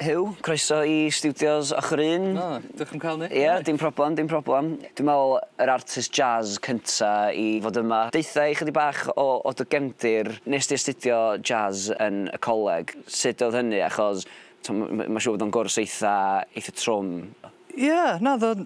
Huw, croeso i Studios Ochr Un. O, diolch am cael ni. Ie, dim problem, dim problem. Dwi'n meddwl yr artist jazz cynta i fod yma. Deutha i chydig bach o o dy gefndir. Nes di astudio jazz yn y coleg, sut oedd hynny achos t'm- m- ma' siŵr bod o'n gwrs eitha eitha trwm. Ie, na o'dd o'n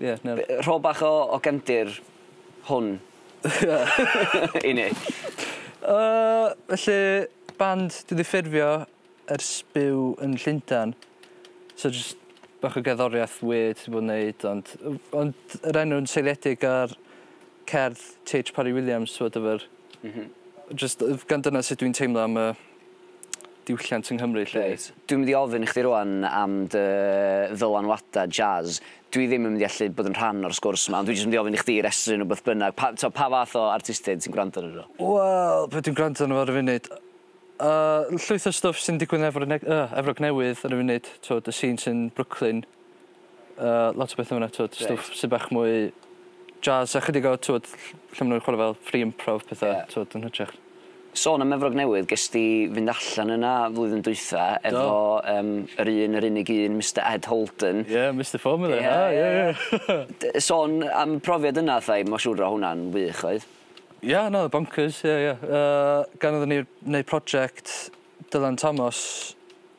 Ie na. Be- yy rho bach o o gefndir hwn i ni. Yy felly band dwi 'di ffurfio ers byw yn Llundan so jys bach o gerddoriath weird dwi 'di bod yn neud ond o- ond yr enw'n seiliedig ar cerdd Tee Haitch Parry Williams whatever. M-hm. Jyst yy gan dyna sut dwi'n teimlo am y diwylliant yng Nghymru 'lly wyt? Dwi'n mynd i ofyn i chdi rŵan am dy ddylanwadau jazz. Dwi ddim yn mynd i allu bod yn rhan o'r sgwrs 'ma ond dwi jyst mynd i ofyn i chdi restru nhw beth bynnag. Pa t'o' pa fath o artistiaid ti'n gwrando arnyn nhw? Wel be' dwi'n gwrando arno fo ar y funud? Yy llwyth o stwff sy'n digwydd yn Efrog Neg- yy Efrog Newydd ar y funud t'wod y scene sy'n Brooklyn. Uh, lot o bethau fyna, twyd, right. stwff sy'n bach mwy jazz, a chydig o, twyd, lle maen nhw'n chwarae fel free improv pethau, yeah. twyd, yn hytrach. Sôn am Efrog Newydd, ges di fynd allan yna flwyddyn dwytha efo um, yr un, yr unig un, Mr Ed Holden. Ie, yeah, Mr Formula, yeah, ha, ie, yeah, yeah. Sôn am profiad yna, thai, mae'n siŵr o hwnna'n wych, oedd? Ie, yeah, no, bonkers, ie, yeah, ie. Yeah. Uh, gan oedden ni wneud prosiect Dylan Thomas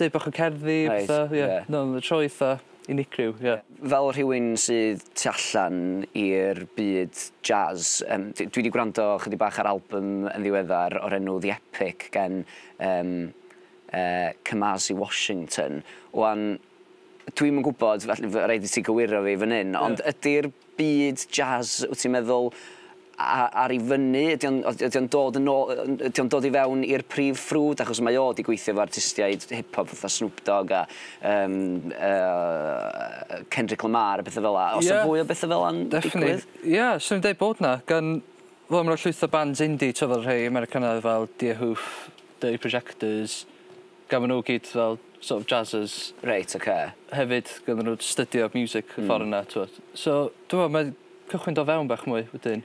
Deud bach o cerddi a petha. Reit, ie. Ie. Na'n troi itha unigryw, ie. Fel rhywun sydd tu allan i'r byd jazz, yym, d- dwi 'di gwrando chydig bach ar albym yn ddiweddar o'r enw The Epic gen, yym, yy, Kamasi Washington. Wan, dwi'm yn gwbod, felly, f- raid i ti gywiro fi fan 'yn, ond ydi'r byd jazz wt ti'n meddwl a- a- ar i fyny ydy o'n o- ydy o'n dod yn ôl yy ydy o'n dod i fewn i'r prif ffrwd achos mae o 'di gweithio efo artistiaid hip hop fatha Snoop Dogg a yym yy Kendrick Lamar a petha fela o's 'na fwy o betha fela'n digwydd? Definate ie swn i'n deud bod 'na gan wel ma' 'na llwyth o bands indie t'o' fel rhei Americanaidd fel Deerhoof, Dirty Projectors, Gafon nhw gyd fel sort of jazzers. Reit ok. Hefyd gafon nhw stydio miwsic y ffor yna t'mod. So dwi me'wl mae cychwyn do fewn bach mwy wedyn.